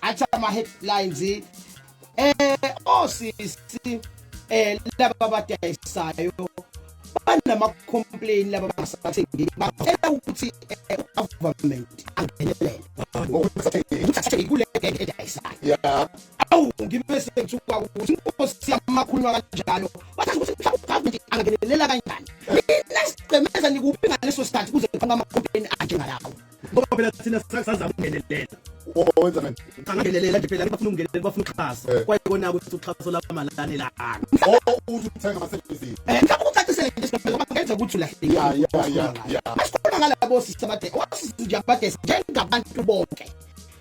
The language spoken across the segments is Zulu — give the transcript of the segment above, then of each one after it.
athi ama-headlines um eh, osisi eh, um laba abadayisayo banama-complain laba basathengeli bacela ukuthi eh, ugovernment angenelele ukuthi kule edayisayo awu ngibe sengithuka ukuthi inkosi yamakhuluma kanjalo Wathi ukuthi uGovernment angakenelela kanjani. Nina sigcemeza nikuphi ngaleso sikhathi kuze kufanele amaqopheni anje ngalawo. Ngoba phela thina sasazama ukungenelela. Owenza kanjani? Angakenelela nje phela bafuna ukungenelela bafuna uxhaso. Eh. Kwaye kona ukuthi uxhaso lamalane lana. Oh uthi uthenga ama services. Eh ngicabanga ucacisele nje siphela ngoba ngenza ukuthi ulahleke. Ya ya ya. Asikhuluma ngalabo sisabade. Wasizwe nje abade njengabantu bonke.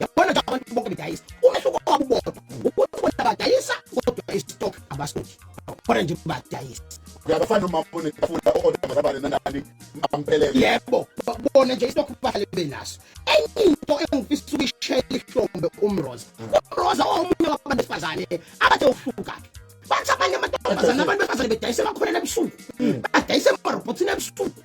yabona nje abantu bonke bedayisa umehluko wabo ubodwa ukuthi bona badayisa kodwa istock abastoki khona nje badayisa uyabafana uma ufuna ukufuna okodwa zabane nanani ampelele yebo bona nje istock bahlale benaso enye into engifisa ukuyishela ihlombe umroza umroza omunye wabantu besifazane abathe ufuka bathi abanye amantombazane abantu besifazane bedayisa bakhona ebusuku badayisa emarobhothini ebusuku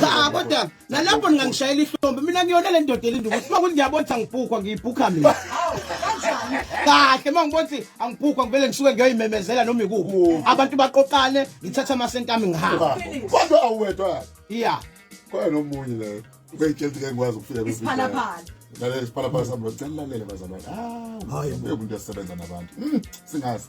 cha kodwa nalapho ningangishayela ihlombe mina ngiyona le ndoda elinda ukuthi uma kuthi ngiyabona ukuthi angibhukwa ngiyibhukha mina kahle uma ngibona ukuthi angibhukwa ngivele ngisuke ngiyoyimemezela noma ikuphi abantu baqoqane ngithatha amasenti ami ngihamba kodwa awuwedwa iya khona nomunye le ubeyitshela ukuthi ngikwazi ukufika kwisiphalaphala lalela isiphalaphala sami ngicela lalele bazalwane ah umuntu esebenza nabantu hmm, singazi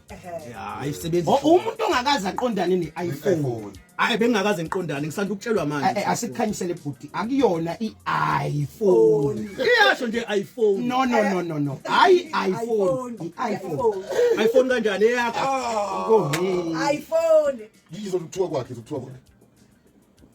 ayisebenzi oh, umuntu ongakaze aqondane ne-iphone hayi bengingakaze ngiqondane ngisanda ukutshelwa manje eh, eh, asikukhanyisele bhuti akuyona i-iphone iyasho nje iphone no no no no no hayi iphone iphone iphone kanjani eyakho ah. iphone ngizokuthiwa kwakhe zokuthiwa kwakhe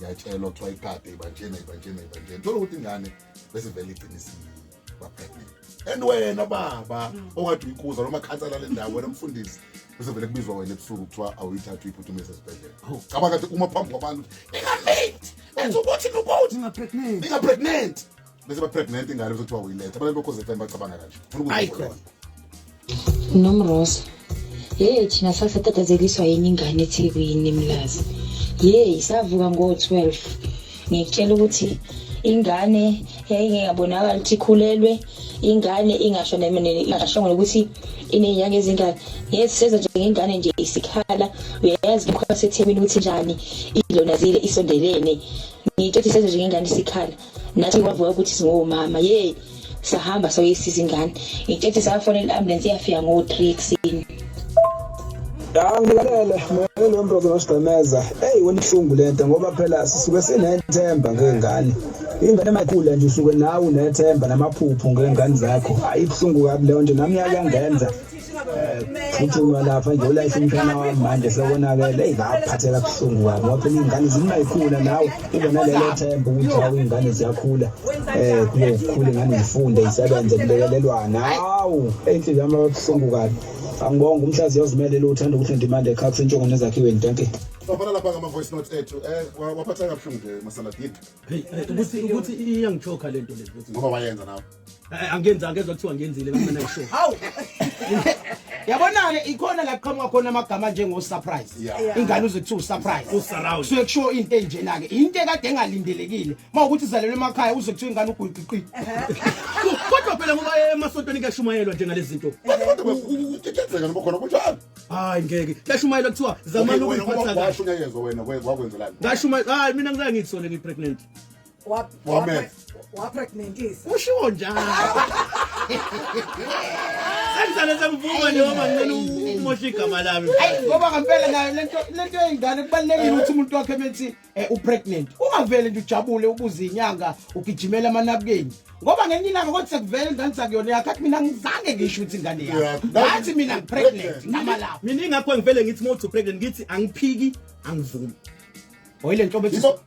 yatshelwa kuthiwa ikade ibanjena ibanjena ibanjena thola ukuthi ingane bese vele iqinisile bapregnant and wena baba okade uyikuza noma khansela le ndawo wena mfundisi bese vele kubizwa wena ebusuku kuthiwa awuyithatha uyiphuthumise esibhedlela cabanga ukuthi uma phambi kwabantu ukuthi ningapregnant ningapregnant bese ba pregnant ingane bese kuthiwa uyiletha abantu bokhoze FM bacabanga kanje ayikhona nomrosa yeyi thina sasatatazekiswa yini ingane ethekwini mlazi yeyi savuka ngo-12 ngikutshela ukuthi ingane yayingekabonakala ukuthi ikhulelwe ingane ingasho ingashongo nokuthi inenyanga ezingane yes seza nje ngengane nje isikhala uyayazi lokho abasethekwini ukuthi njani ilona zile isondelene ngiyitshela ukuthi seza nje ngengane isikhala nathi kwavuka ukuthi singomama ye sahamba soyisiza ingane ngitshetse safonela i-ambulensi iyafika ngo-three ekuseni angilalele mele lo mntu ozonosigqemeza eyi wenihlungu le nto ngoba phela sisuke sinethemba ngey'ngane ingane emayikhula nje usuke nawe unethemba namaphupho ngey'ngane zakho ayibuhlungu kabi leyo nto nami yakangenza phuthuma lapha nje ulayise umfana wami manje sekonakele eyi ngaphatheka kuhlungu kabi ngoba phela iy'ngane zingayikhula nawe ube nalelo themba ukuthi hawu iy'ngane ziyakhula um kube kukhula ingane zifunde isebenze kulekelelwana hawu eyinhliziyo yami ababuhlungu kabi angibonga umhlazi yozimele lo uthanda ukuthi ndimande ekhaa kusentshongo nezakhiweni danke Bafana lapha ngama voice notes ethu. Eh waphatha kabuhlungu nje masaladini. Hey, ukuthi ukuthi iyangichoka lento le. Ngoba wayenza nawe. Eh, angenzi angezwa kuthiwa ngenzile bamana isho hawu yabona-ke ikhona la kuqhamuka khona amagama njengo-surprise ingane uze kuthiwa usurprise kusuke kushiwo into enjena-ke into ekade engalindelekile uma ukuthi izalelwe emakhaya uze kuthiwa ingane ugwiqiqi kodwa phela ngoba emasontweni kuyashumayelwa njengale zinto kuyenzeka noma khona kunjalo hayi ngeke kuyashumayelwa kuthiwa zamani ukuyiphatha kahle ngashumayela hayi mina ngizangithi sona ngipregnant Wa- Wame. wa- wapregnantisa Ushiwo njalo. Sengizale sengivuma nje ngoba ngicela umoshe igama lami. Ayi ngoba ngempela nayo lento lento yengane kubalekile ukuthi umuntu wakhe methi eh, u pregnant. Ungavele nje ujabule ubuze inyanga ugijimela amanabukeni. Ngoba ngenye ilanga kodwa sekuvele ingane sakuyona yakhe athi mina ngizange ngisho ukuthi ingane yakhe. Yeah. Ngathi mina ngi pregnant ngama lapho. Mina ingakho ngivele ngithi mothi pregnant ngithi angiphiki angivumi. Hoyi lento bethi Yibo-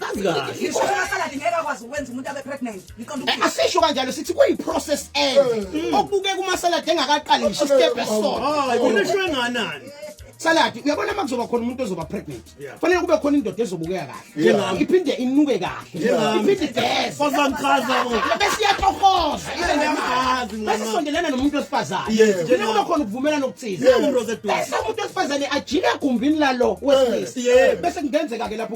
kazi kahle ngisho amasaladi ngeke akwazi ukwenza umuntu abe pregnant ngiqonda eh, ukuthi asisho kanjalo sithi kuyi process end eh. mm. okubuke kuma salad engakaqali ngisho step esona hayi kunishwe nganani saladi uyabona uma kuzoba khona umuntu ozoba pregnant fanele kube khona indoda ezobukeka kahle iphinde inuke kahle iphinde idese kozangichaza bese iyatohoza bese sondelana nomuntu osifazane njengoba kuba khona ukuvumelana okuthize bese umuntu osifazane ajike egumbini lalo wesilisa bese kungenzeka-ke lapho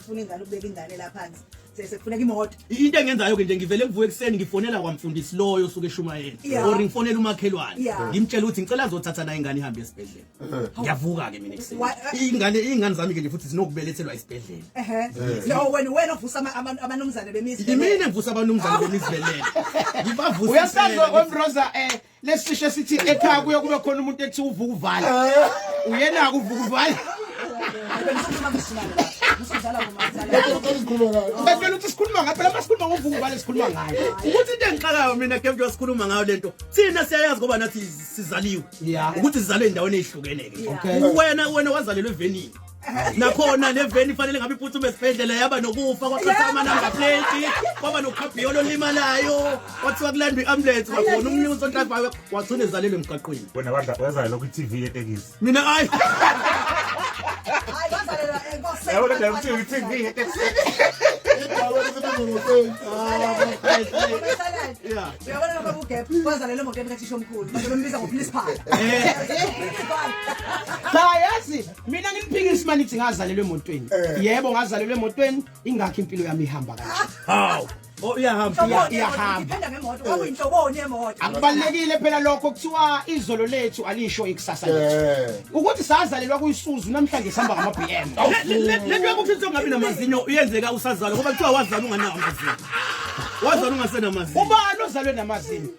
ufuna ingane ubeka ingane la phansi sekufuneka imoto into engenzayo ke nje ngivele ngivuke ekuseni ngifonela kwamfundisi loyo suke shumayeni yeah. or ngifonela umakhelwane yeah. ngimtshela ukuthi ngicela azothatha nayo ingane ihambe esibhedlela uh-huh. ngiyavuka ke mina ekuseni uh, ingane ingane zami ke nje futhi zinokubelethelwa esibhedlela uh-huh. no wena wena uvusa abanumzane bemizi yimina ngivusa abanumzane bemizi belela ngibavusisa uyasazwa kwemroza eh lesi sisho sithi ekhaya kuye kube khona umuntu ethi uvuka uvala uyena-ke uvuka uvala bevela uthi sikhuluma ngayo phela masikhuluma ngovuka uvala sikhuluma ngayo ukuthi into engixakayo mina ke mntu sikhuluma ngayo le nto thina siyayazi ngoba nathi sizaliwe ukuthi sizalwe endaweni eyihlukene-ke wena wena wazalelwa evenini nakhona le veni ifanele ngabe iphuthume esibhedlela yaba nokufa kwaqhatha amanamba plate kwaba nokhabhiyolo olimalayo kwathiwa kulandwa i-ambulance kwakhona umnini usontabayo wagcina ezalele emgaqweni wena wazayo lokhu i-tv yetekisi mina ayi yabona nje ukuthi i-tv yetekisini uyabona lokho kugep kwazalela emoto emkathisha omkhulu bazobe mbiza ngopolice phala cha yazi mina ngimphikisi uma nithi ngazalelwa emotweni eh. yebo ngazalelwa emotweni ingakho impilo yami ihamba kanje hawu Oh iyahamba iyahamba. Akubalekile phela lokho kuthiwa izolo lethu alisho ikusasa lethu. Ukuthi sazalelwa kuyisuzu namhlanje sihamba ngama BM. Lento yokuthi songabi namazinyo uyenzeka usazalwa ngoba kuthiwa wazalwa unganawo amazinyo. Wazalwa ungasenamazinyo. Ubani ozalwe namazinyo?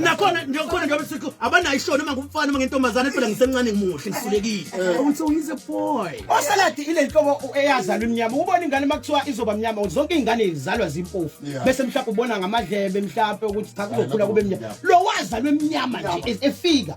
nakhona njengokhona njengoba sithi abanayo ishoni uma ngumfana uma ngentombazane phela ngisemncane ngimuhle ngihlulekile eh. awuthi uyize boy osaladi ile nhlobo eyazalwa imnyama ubona ingane uma kuthiwa izoba mnyama zonke iy'ngane zizalwa zimpofu bese mhlawumbe ubona ngamadlebe mhlawumbe ukuthi cha kuzokhula kube mnyama lo wazalwa emnyama nje e- efika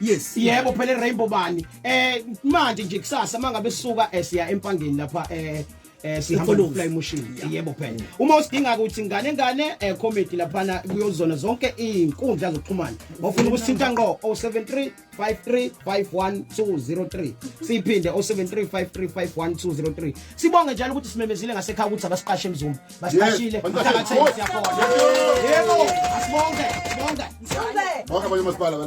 yes yebo phela rainbow bani eh manje nje kusasa mangabe suka eh, siya empangeni lapha eh eh sihamba Ekoloni. nofly motion yebo phela uma usidinga ukuthi ngane ngane eh comedy laphana kuyozona zonke izinkundla zokuxhumana ofuna ukusithinta ngqo 073 5351203 siphinde 073535123 sibonge njalo ukuthi simemezile ngasekhaya ukuthi abasiqashe emzumba basiqashile Yes, mthakatheni siyabonga yebo asibonge sibonge Bonke abanye omasipala bala-